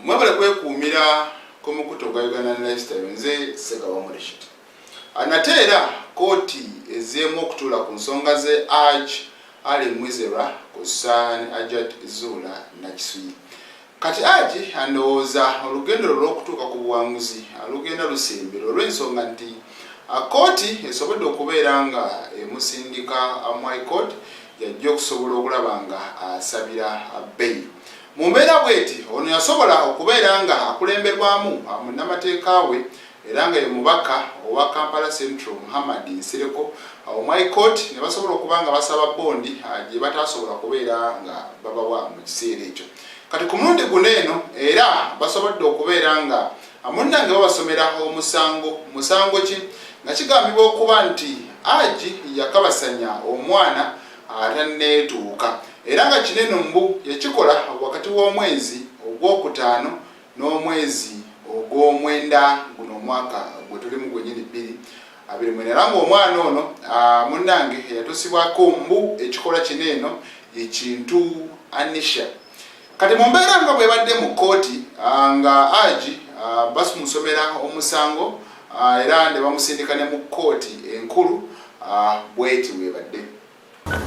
mwebale kwekuumira ku mukutu ogwa uganda lifestyle nze segawamulishiti nate era kooti ezeemu okutuula ku nsonga ze aj ali mwizera ku san ajat zuula nakisuyi Kati Haji andowooza olugendo lwe olw'okutuuka ku buwanguzi alugenda lusembera olw'ensonga nti kkooti esobodde okubeera nga emusindika mu High Court gy'ajja okusobola okulaba nga asabira bbeyi. Mu mbeera bweti ono yasobola okubeera nga akulemberwamu munnamateeka we era nga ye mubaka owa Kampala Central Muhammad Nsereko mu High Court ne basobola okuba nga basaba bbondi gye bataasobola kubeera nga babawa mu kiseera ekyo. kati ku mundi guno eno era basobodde okubeera nga munnange babasomera omusango musango ki nga kigambibwa okuba nti agi yakabasanya omwana atanneetuuka era nga kino eno mbu yakikola wakati w'omwezi ogwokutaano n'omwezi ogw'omwenda guno omwaka gwe tulimu gwenyini bbiri abiri mwena era ng'omwana ono ah, munnange eyatusibwako mbu ekikola kino eno ekintu anisha kati mu mbeera nga bwebadde mu kkooti ah, nga agi ah, basumusomera omusango era ne bamusindika ne mu kkooti enkulu bweti bwebadde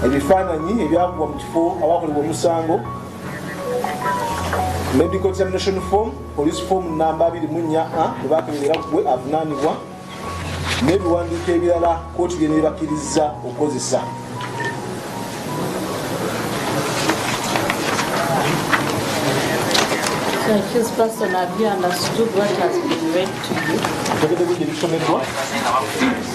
ebifaananyi ebyakubwa mu kifo awakolebwa omusango medical examination form police form namba 24 a bwebakebera gwe avunanibwa n'ebiwandiiko ebirala kooti byenebakirizza okukozesa Thank you.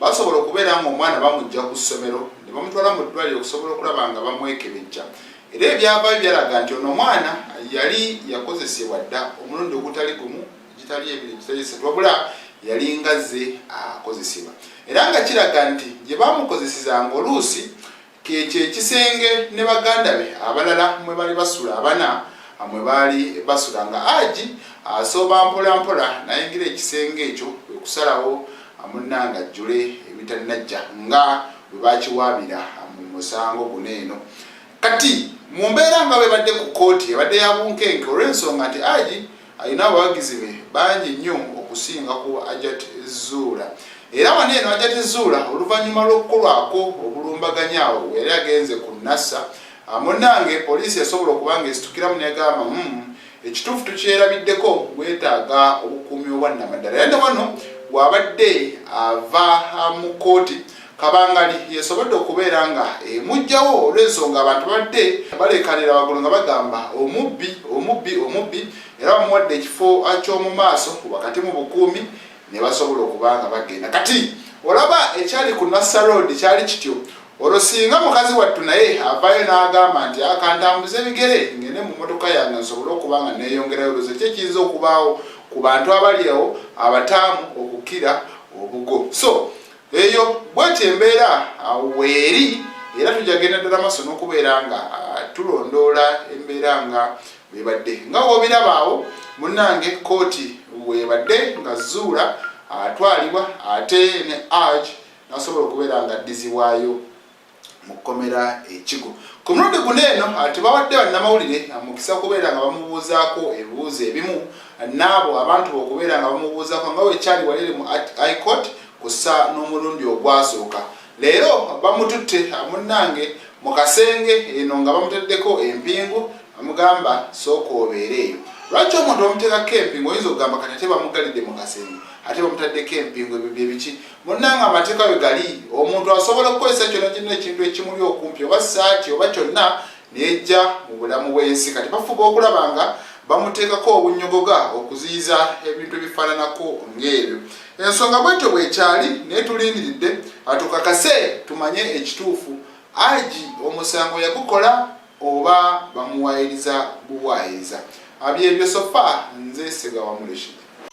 Basobola okubeera ng'omwana bamujja ku ssomero ne bamutwala mu ddwaliro okusobola okulaba nga bamwekebejja era ebyavaayo byalaga nti ono omwana yali yakozesebwa dda omulundi ogutali gumu egitali ebiri egitali esatu wabula yali ngazze akozesebwa era nga kiraga nti gye bamukozeseza ng'oluusi Ke kye kisenge ne baganda be abalala mwe bali basula abana mwe baali basula nga Aji asooba mpola mpola nayingira ekisenge ekyo kwe kusalawo munnange ajjule ebitannajja nga bwe bakiwaabira mu musango guno eno kati mu mbeera nga bwebadde ku kkooti ebadde ya bunkenke olw'ensonga nti Aji Alina abawagizi be bangi nnyo okusinga ku Ajat Zuula era wano eno Ajat Zuula oluvannyuma lw'okukolwako obulumbaganyi awo bwe yali agenze ku Nassa munnange poliisi yasobola okuba ng'esitukiramu negamba mu hmm, ekituufu tukyerabiddeko gwetaaga obukuumi obwannamaddala era ne wano bw'abadde ava mu kkooti Kabangali yesobodde okubeera nga emujjawo olw'ensonga abantu babadde baleekaanira waggulu nga bagamba omubbi, omubbi, omubbi era bamuwadde ekifo ky'omu maaso wakati mu bukuumi ne basobola okuba nga bagenda. Kati olaba ekyali ku Nasser Road kyali kityo olwo singa mukazi wattu naye avaayo n'agamba nti akantambuza ah, ebigere ngende mu motoka yange nsobole okuba nga neeyongerayo olwozo ki ekiyinza okubaawo ku bantu abali awo abataamu okukira obugo so eyo bwetyo embeera uh, weeri era tujja genda ddala maaso n'okubeera nga uh, tulondoola embeera nga bwebadde nga wobirabaawo munange kooti webadde nga zuula atwalibwa uh, ate ne arge nasobola okubeera nga addizibwayo mu kkomera ekigo ku mulundi guno eno ah, tebawadde bannamawulire ah, mukisa okubeera nga bamubuuzaako ebibuuzo ebimu ah, n'abo abantu okubeera nga bamubuuzaako nga wekyali walere mu icourt kussa n'omulundi ogwasooka leero bamututte munnange mu kasenge eno nga bamuteddeko empingu amugamba sooka obeere eyo lwaki omuntu bamuteekako empingu oyinza okugamba kati ate bamugalidde mu kasenge ate bamutaddeko empingu ebyo byebiki Munnange amateeka we gali, omuntu asobola okukozesa kyonna kyonna ekintu ekimuli okumpi oba ssaati oba kyonna neyejja mu bulamu bw'ensi. Kati bafuba okulaba nga bamuteekako obunyogoga okuziyiza ebintu ebifaananako ng'ebyo. Ensonga bwetyo bwekyali naye tulindiridde atukakase tumanye ekituufu. Agi omusango yagukola oba bamuwaayiriza buwaayiriza? Abyebyo sofa nze Ssegawa Mulishid.